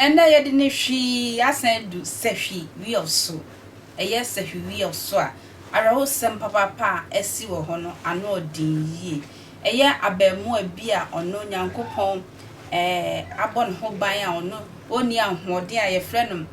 Ɛnnɛ yɛde ne hwi asan adu sahwi weɔw so. Ɛyɛ sahwi weɔw so a awerɛhosɛm papaapa a asi wɔ hɔ no ano ɔden yie. Ɛyɛ abɛɛmoa bi a ɔno Nyankopɔn abɔ ne ho ban a ɔno ɔnni ahoɔden a yɛfrɛ no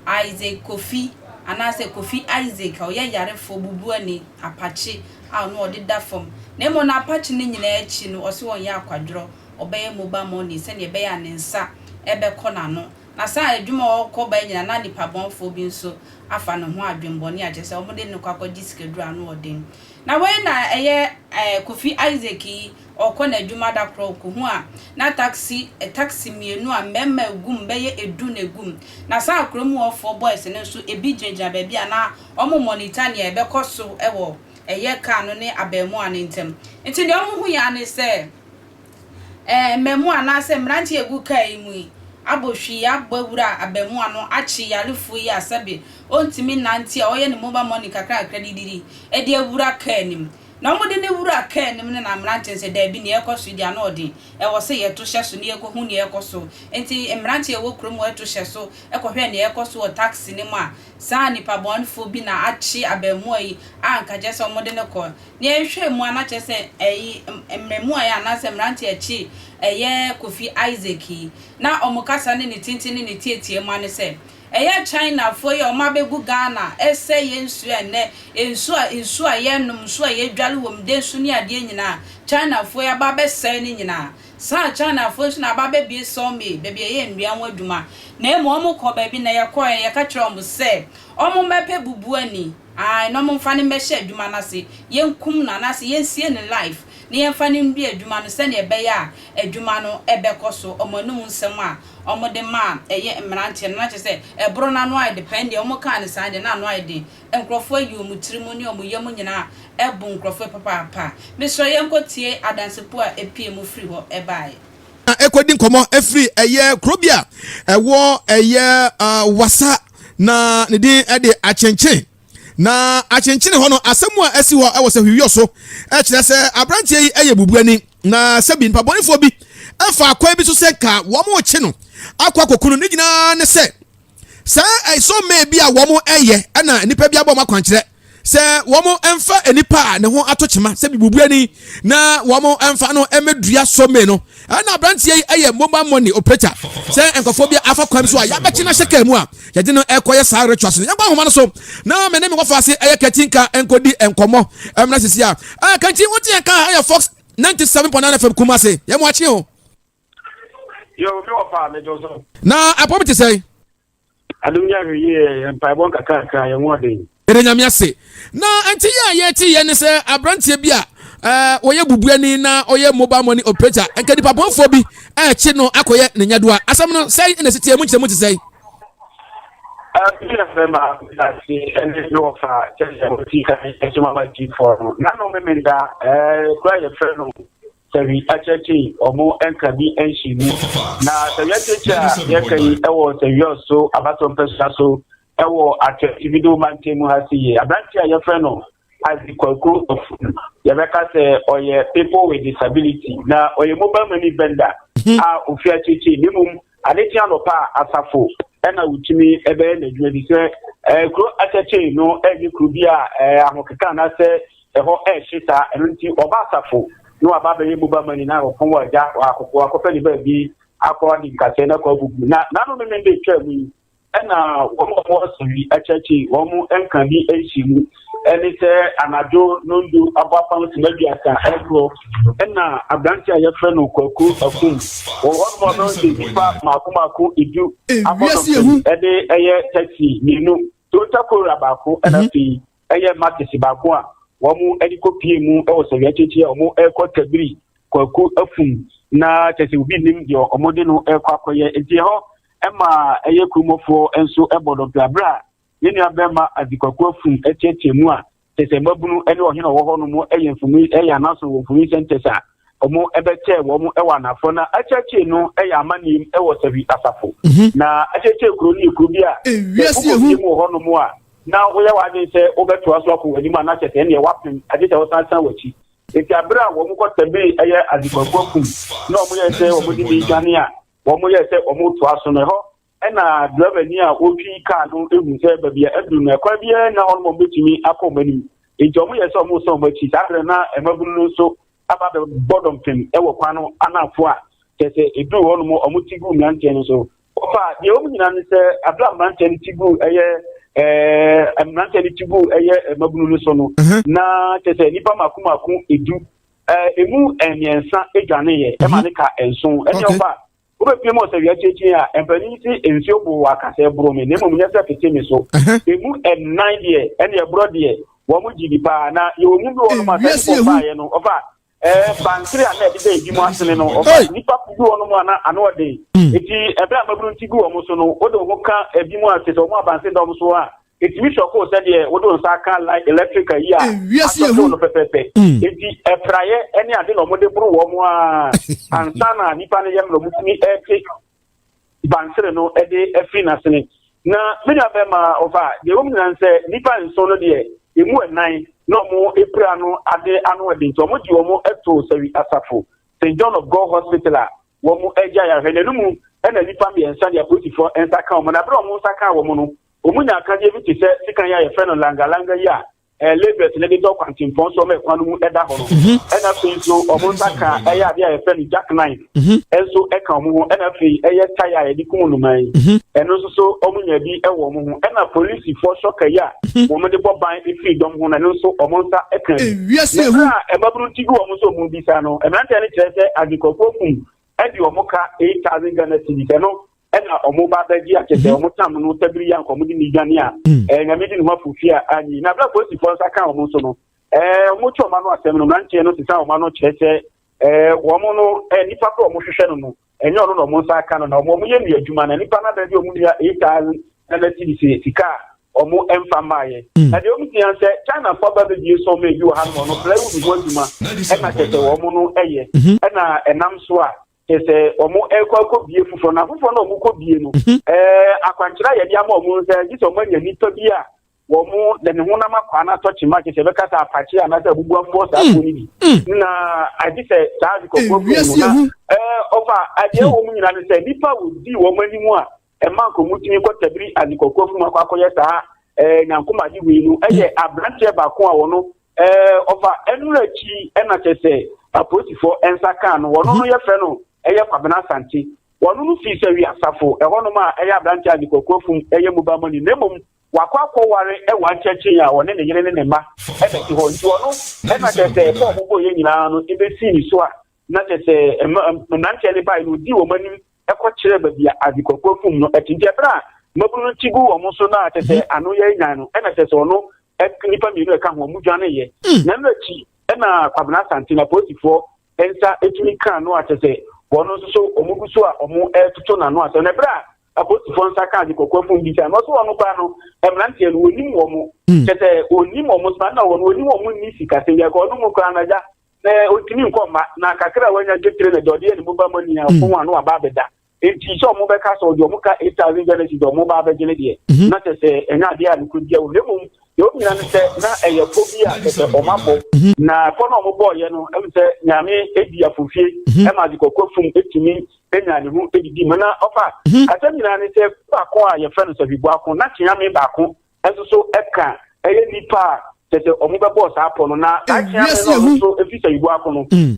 Isaac Kofi anaasɛ Kofi Isaac a ɔyɛ yarefoɔ bubuani apakye a ɔno ɔde da fam na mmom no apakye no nyinaa akyi no ɔse ɔnyɛ akwadworɔ ɔbɛyɛ mobile money sɛdeɛ ɛbɛyɛ a ne nsa bɛkɔ n'ano na saa adwuma a ɔkɔ ba nyinaa na nipabɔnfoɔ bi nso afa ne ho adwenbɔne a kyerɛ sɛ wɔde no kɔ akɔgye sikaduro ano ɔden na wei na ɛyɛ Kofi Isaac yi Ɔrekɔ n'adwuma da koro, ɔkohu a na taksi, taksi mmienu a mmarima gu mu bɛyɛ du na egu mu. Na saa ara kurom hɔfoɔ, boys, no nso, ebi gyinagyina baabi a na wɔmonitor nea ɛbɛkɔ so wɔ ɛyɛ kaa no ne abaamua no ntam. Nti nea wɔhui ara ne sɛ ɛɛ mmaamua anaasɛ mmeranteɛ a egu kaa yi mu yi abɔ hwii abɔ awura abaamua no akye yarefoɔ yi a sɛbe ɔntumi nnante a ɔyɛ ne mobile money kakra kakra didiri de awura kaa no mu. Na wɔde ne wura kaa anim ne n'ammerante no sɛ, Dabi, nea ɛrekɔ so yi de, ano yɛ den. Ɛwɔ sɛ yɛto hyɛ so na yɛkɔhu nea ɛrekɔ so. Enti mmerante a wɔwɔ kurom hɔ to hyɛ so kɔhwɛɛ nea ɛrekɔ so wɔ taksi no mu a saa nipabɔnefo bi na akye abaamua yi a anka kyerɛ sɛ wɔde no kɔ. Nea yɛhwɛɛ mu ara na kyerɛ sɛ ɛyi mmarimaa yi anaasɛ mmerante a akyi ɛyɛ Kofi Isaac yi. Ná wɔn kasa ne ne tintin ne ne tiatiamua ne sɛ, Ɛyɛ China foɔ yi a wɔn abɛgu Ghana ɛsɛe yɛn nsuo a nnɛ nsuo a nsuo a yɛnom nsuo a yɛdware wɔ mu dɛnsu ne adeɛ nyinaa China foɔ yi aba abɛsɛe ne nyinaa saa China foɔ yi nso na aba abɛbue saw mill baabi a yɛyɛ nnua ho adwuma na mmom wɔn kɔ baabi na yɛkɔɛ no yɛka kyerɛɛ wɔn sɛ wɔn mmɛpɛ bubuani ae na wɔn mfa no mmɛhyɛ adwuma no ase yɛnkum no anaasɛ yɛnsie ne life na yɛmfa no ndue adwuma no sɛdeɛ ɛbɛyɛ a adwuma no ɛbɛkɔ so wɔn anum nsɛm a wɔde ma a ɛyɛ mmeranteɛ no, na kyerɛ sɛ, ɛboro no ano ayɛ de pɛn deɛ, wɔkaa no saa deɛ, na ano ayɛ den. Nkurɔfoɔ ayi wɔn tirim ne wɔn yam nyinaa abu nkurɔfoɔ yi papaapa. Mesrɛ yɛnkɔtie adansekuo a ɛpuee mu firii hɔ baeɛ. Na ɛkɔdi nkɔmmɔ firi ɛyɛ kuro bi a ɛwɔ ɛyɛ Wassa, na ne din de Achenkyen. Na akyenkyene hɔ no, asɛm a asi hɔ wɔ sɛ hwiwiyɔ so kyerɛ sɛ aberanteɛ yi yɛ bubuani, na sɛbi mpabɔnefoɔ bi faa kwan bi so sɛ nka wɔrekye no akɔ akɔku no. Ne nyinaa ne sɛ, saa ɛsɔmmɛn bi a wɔyɛ na nnipa bi abɔ wɔn akwankyerɛ sɛ wɔmfa nnipa a ne ho ato kyema sɛ bubuani na wɔmfa no mmɛdua sɔmmɛn no. Ɛna abranteɛ yi yɛ mobile money operator. Sɛ nkurɔfoɔ bi afa kwan bi so a, yɛabɛkye no ahyɛ kaa mu a, yɛde no ɛkɔ yɛ saa rituals no. Yɛnkɔ ahoma no so na me ne me wɔfa ase ɛyɛ Katinka nkɔdi nkɔmmɔ. Ɛmena sisi a, ɛɛ Kanti, wote yɛn kaa ɛyɛ Fox 97.9 FM Kumase. Yɛn mu akye o. Yo, me wɔfa, me dwo so. Na apɔ bi te sɛn? Adom nyɛ ahwɛ yie yɛ mpaebɔ nkakrakra yɛ wɔden. Yɛde nyame ase. Na nti yɛ a yɛte yɛ ne sɛ abranteɛ bi a wɔyɛ bubuani na ɔyɛ mobile money operator nka nipa bɔnfoɔ bi ɛkye no akɔyɛ ne nyadoa. Asɛm no sɛn na ɛsiteɛ mu nkyerɛ mu te sɛn? Ɛbɛyɛ fɛ ma ase ɛne ne wɔfa kyɛnkyɛn wɔti kan ɛsoma ma gyifoɔ no. Na no memenda kura yɛfrɛ no sɛ hwi akyerɛkyee ɔmo ɛnka bi ɛnhye mu. Na sɛ hwi akyerɛkyee a yɛka yi ɛwɔ sɛ hwi ɔso abatɔ mpɛsua so ɛwɔ atwɛ tibido mantam mu ha si yɛ. Aberante a yɛfrɛ no Isaac Kwaku Ofun yɛbɛka sɛ ɔyɛ people with disability na ɔyɛ mobile money vendor a ofi akyerɛkyee ne mmom Ade kye anɔpa a, asafo na wotumi bɛyɛ n'adwuma bi sɛ kuro atɛkyee no ɛnyɛ kuro bi a ahokeka anaasɛ ɛhɔ ɛhye saa. Ɛno nti ɔba asafo na waba abɛyɛ mobile money na ɔpɔn wɔ agya wakɔpɛ ne baabi akɔ adi nkasɛɛ na akɔ abubu. Na n'ano no ne de twaa mu yi, Ɛnna wɔn a wɔwɔ Sori akyiriakyiri wɔn nka bi nhyɛ mu ne sɛ anadwo nnɔndu abɔ apam sima aduasa rekorɔ. Ɛnna aberante a yɛfrɛ no Kwaku Akum wɔ hɔnom a ɔno de nnipa mmaako mmaako edu abɔ dɔpem de ɛyɛ taxi mmienu, Toyota Corolla baako na mhm. afei ɛyɛ Maxis baako a wɔn ani kɔpie mu wɔ Sori akyiriakyiri a wɔrekɔ Kabiri Kwaku Afum na kyɛ sɛ obi nnim deɛ wɔde no rekɔ akɔyɛ nti hɔ Ɛma ɛyɛ kurumɔfoɔ nso bɔ dɔmpɛ aberɛ a ne nua bɛɛma Adzikwaku Afum teatea mu a kyɛsɛ mmabunu ne ɔhene a ɔwɔ hɔ nom yɛ mfoni yɛ anasono wɔ mfoni sɛntɛs a ɔmo bɛ kyɛɛ wɔ ɔmo wɔ anaafoɔ na akyeakyee no yɛ amanneɛm wɔ Sahwi asafo na akyeakyee kuro no yɛ kuro bi a sɛ wokɔ fie mu wɔ hɔ nom a na woyɛ w'adwene sɛ wobɛtoa so akɔ w'anim a na kyɛsɛ ɛneɛ wapem agye sɛ wosan san w'akyi nti aberɛ a wɔn kɔ tɛbee ɛyɛ Adzikwaku Afum na ɔmo yɛ sɛ ɔmo de ne dwane a Wɔyɛɛ sɛ wɔretoa so no, ɛhɔ na drɛvani a ɔtwi kaa no hu sɛ baabi a aduru no, ɛkwan biara nna hɔ no ma wɔbɛtumi akɔ wɔn anim. Enti wɔyɛɛ sɛ wɔresan wɔn akyi. Saa berɛ no, na mmabunu no nso aba abɛbɔ dɔmpem wɔ kwan no anafo a kyerɛ sɛ ɛduruu hɔ nom wɔte guu mmeranteɛ no so. Wɔfa deɛ wɔn nyinaa ne sɛ abira mmeranteɛ no ti guu ɛyɛ ɛɛ mmeranteɛ no ti guu ɛyɛ mmabunu no so no, na kyerɛ sɛ nnipa mako mako edu Eh, emu eh, mmiɛnsa dwaneeɛ eh, ma ne ka eh, nson ɛne okay. ɔba wobɛpie mu ɔsɛ wia kyiakyie a eh, mpanin si eh, nsuo boo wɔ akasa ɛboro me na mmom nyɛ sɛ fete me so emu ɛnan deɛ ɛne ɛborɔ deɛ wɔn mo gyi di paa na yɛwɔ mu bi wɔ nom asɛ ne bɔbaeɛ no ɔfa ɛɛ bansere a na ɛde dɛ ebi mu asene no ɔfa nipa bi wɔ nom a na ano ɔden eti ɛbɛn amabunu ti bi wɔ mo so no o de ho ka ebi mu asese wɔn abansere dɔm so a. ɛtumi sɔ koo sɛdeɛ wode wo nsa aka line electric ayi a asɔ koo no pɛpɛpɛ nti ɛpraeɛ ɛne ade na ɔmode boro wɔ mo a ansa na nipa no yɛ mmerɛ motumi ɛte bansere no ɛde afiri n'asene na me nua bɛma ɔfa deɛ wɔm nyinaa sɛ nipa nson no deɛ ɛmu ɛnan na ɔmo ɛpira no ade ano ɛde nti ɔmo gye ɔmo ɛto sɛwi asafo st john of god hospital a wɔn agyae ahwɛ. Na no mu na nnipa mmiɛnsa de apolisifo nsa kaa wɔn, na bere a wɔn nsa kaa wɔn no, wɔnyaa akadeɛ bi te sɛ sekan yi a yɛfrɛ no langa-langa yi a ɛɛ labourers no de dɔ kwantempɔn so ma kwan no mu da hɔ no. Mhm. Ɛna afei nso wɔn nsa kaa ɛyɛ adeɛ a yɛfrɛ no jack nine mhm. nso ɛka wɔn ho. Ɛna afei ɛyɛ tae a yɛde kum nnomaa yi. Mhm. Ɛno nso so wɔn nya bi ɛwɔ wɔn ho. Ɛna polisifo sɔka yi a wɔn de bɔ ban efiri dɔm ho na ɛno nso wɔn nsa ɛka bi. Ɛwia si ehu. Ɛna ɛmaburu ti bi wɔn nso wɔn bi. Bisa no, mmeranteɛ no kyerɛ sɛ adwekwafo fum de wɔn ka eight thousand Ghana cedis, ɛno na wɔn ba bɛgye akyɛ sɛ wɔn tam no tabiri yɛ anka wɔn de ne dwane a, ɛɛ nyame di ne ho afofie a anyi. Na abira polisifoɔ nsa ka wɔn so no, ɛɛ wɔn tu wɔn ano asɛm no, mmeranteɛ no sesa wɔn ano kyerɛ sɛ ɛɛ wɔn no ɛɛ nipa koro wɔn hwehwɛ no no. ɛnyɛ ɔno na wɔn nsa aka no na wɔn yɛ ne adwuma na nipa no abɛn de wɔn nua eight thousand nana ti sɛ sika a wɔn mfa mmaayɛ hmm. na deɛ wɔn tia sɛ china fo aba bɛbie sɔn mɛ bi wɔ ha no ɔno plywood ho adwuma ɛna kyɛ sɛ wɔn no yɛ mhm. ɛna ɛnam so a kyɛ sɛ wɔn ɛkɔ akɔ bie foforɔ na foforɔ na wɔn kɔ bie no mhm. ɛɛ akwankyerɛ a yɛde ama wɔn sɛ gye sɛ wɔn anya nipa bi a Wɔde ne honam akwaa no atɔ kyema kyerɛ sɛ ɛbɛka sɛ apakye anaasɛ abubuafoɔ saa kuo no bi. Na agye sɛ saa adekɔfoɔ kuo no na ɔfa adeɛ wɔ mu nyinaa no sɛ nnipa a wɔdi wɔn anim a ɛma nkɔmu tumi kɔtabiri adekɔfoɔ afum akɔ akɔyɛ saa nyankomade wei no yɛ aberanteɛ baako a wɔno ɔfa ɛno akyi ɛna kyɛ sɛ apolisifoɔ nsa kaa no wɔno no yɛfrɛ no ɛyɛ Kwabena Asante wɔno no fii sɛ wi asafo ɛhɔnom a ɛyɛ aberanteɛ adekɔfoɔ afum ɛyɛ mobile money na mmom wakɔ akɔware wɔ ankyɛnkyɛn a ɔne ne yere ne ne mma na ɛte hɔ nti ɔno na kyerɛ sɛ ɛkɔɔ ho bɔeɛ nyinaa no ɛbɛsii ne so a na kyerɛ sɛ mmeranteɛ no baeɛ no ɔdii wɔn anim kɔkyerɛɛ baabi a adzekwakua fum no te nti ɛberɛ a mmabunu no ti gu wɔn so na kyerɛ sɛ mhm. ano yɛ nyan no ɛna kyerɛ sɛ ɔno nnipa mmienu ɛka ho ɔmo dwaneeɛ mm. na ɛno akyi ɛna Kwabena Asante na polisifoɔ nsa ɛtumi kaa no a kyerɛ sɛ wɔn nso so ɔmo gu so a ɔmo ɛtoto n'ano asɛm na ɛberɛ a Apostifoɔ nsa kaa ade kɔkɔɔ fom bisae no, ɔse wɔn koraa no mmeranteɛ no wɔnim wɔn, hmm. kyɛ sɛ wɔnim wɔn soma na wɔn wɔnim wɔn nni sikasɛm bi akɔ ɔno mu koraa no agya na ɔntumi nkɔ mma na kakra a wanya dwetire na deɛ ɔde yɛ ne boba mu nia hmm. fom ano aba abɛda nti sɛ ɔmo bɛka sɛ ɔde ɔmo ka eight thousand genesis ɔmo ba abɛgye ne deɛ mhm. na kyɛ sɛ ɛnyɛ adeɛ a ne kuro bia wɔ na mmom deɛ ɔmo nyina no sɛ na ɛyɛ fo bi a kyɛ sɛ ɔmo abɔ mhm. na fɔ na ɔmo bɔɔyɛ no ɛmu sɛ nyame edi afofie mhm. ɛma ade kɔkɔ fum etumi bɛnya ne ho adidi ma na ɔfa hmm. asɛm nyinaa ne sɛ baako a yɛfrɛ no safiboako na kyeame baako nso so ɛka ɛyɛ nipa a kyɛ sɛ ɔmo bɛbɔɔ saa pɔ no na saa kyeame no ɔno nso ɛfiri safiboako no hmm.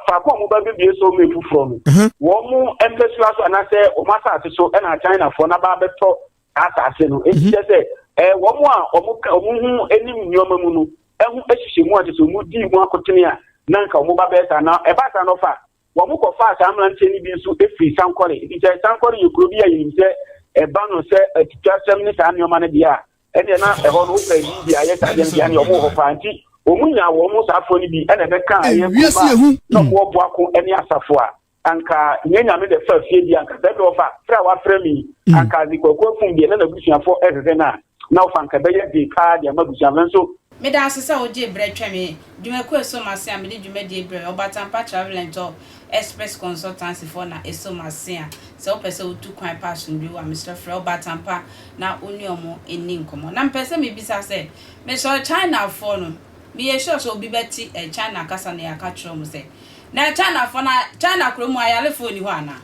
faako a ɔmo ba bɛbie so ɔmo efoforɔ no hmm. wɔn mo mpɛsua so anaasɛ ɔmo asase so ɛna akyinafoɔ na baa bɛtɔ asase no esi kyɛ sɛ ɛɛ wɔn a ɔmo ka ɔmo ho anim nneɛma mu no ɛho ahyehyɛ mu a kyɛ sɛ ɔmo di mu akotene a na nka ɔmo ba bɛyɛ saa na ɛbaa saa na ɔfa Wɔkɔfaa saa mmeranteɛ no bi nso firii Sankore, efisɛ Sankore yɛ kuro bi a yɛnim sɛ ɛba no sɛ atwitwasɛm ne saa nneɛma no deɛ a, ɛnneɛ na ɛhɔ no wopɛ Biribi a ɛyɛ saa deɛ no deɛ a, ɛnneɛ wɔn wɔ hɔ paa. Nti wɔn nyaa wɔn saa afoɔ no bi na ɛbɛkaa ɛyɛ kurom a na wɔn rebɔ ako ne asafo a anka nyɛ Nyame dɛ fa fie deɛ anka sɛ ɛdɔɔ fa frɛ a wafrɛ me yi anka dze kwaku afum deɛ na n'abusuafoɔ rehwehwɛ no a. na ɔfa anka ɛbɛyɛ den paa de ama abusua nanso. Meda ase sɛ wogyee berɛ twɛn me dwumakuo a ɛso m'ase a mede dwumadie brɛɛ Ɔbatampa Travel and Tour Express Consultancy foɔ na ɛso m'ase a sɛ wopɛ sɛ wotu kwan pa asomdwoeɛ wɔ a mesrɛ frɛ Ɔbatampa na wo ne wɔn nni nkɔmmɔ. Na mepɛ sɛ mebisa sɛ, mesɔre Chinafoɔ no, meyɛ sure sɛ obi bɛte ɛɛ China kasa na yɛaka kyerɛ wɔn sɛ, na ɛɛ Chinafoɔ na China kuro mu ayalefoɔ nni hɔ anaa?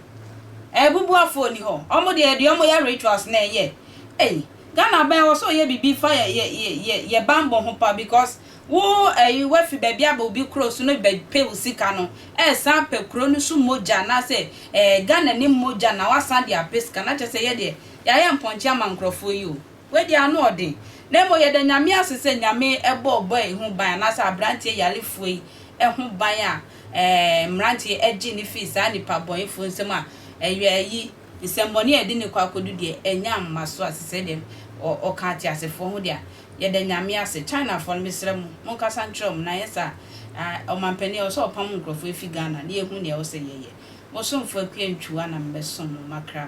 Ɛɛ bubuafoɔ nni hɔ? Wɔn deɛ deɛ wɔyɛ rituals na ɛyɛ. Ei Ghana aban ɛwɔ sɛ ɔyɛ bibi fa yɛ yɛ yɛ yɛ yɛ banbɔ ho pa because wo ɛyi wafi baabi aba obi kuro so no bɛ pɛ wo sika no ɛsan apɛ kuro no so mogya anaasɛ ɛɛ Ghana ni mogya na wasan de apɛ sika no akyɛ sɛ yɛ deɛ yayɛ mpɔnkye ama nkorɔfoɔ yi o wei deɛ ano ɔden na mmom yɛda Nyame ase sɛ Nyame ɛbɔ ɔbɔ yi ho ban anaasɛ abranteɛ yarefoɔ yi ɛho ban a ɛɛ mmranteɛ ɛgye no firi saa nipa bɔnefoɔ nsam a ɛyɔ ɛyi nsɛmmɔne a ɛde no kɔ akodu deɛ ɛnya mmaso a tesɛ deɛ ɔka ateasefoɔ ho deɛ a, yɛda Nyame ase. Chinafoɔ no mesrɛ mo monkasa nkyerɛ wɔn na anyɛ saa a ɔmanpanin a ɛwɔ sɛ ɔpam nkurɔfoɔ ɛfiri Ghana na yɛhu deɛ ɛwɔ sɛ yɛyɛ. Mo somfoɔ Akua Ntwua na mebɛsom mo makra.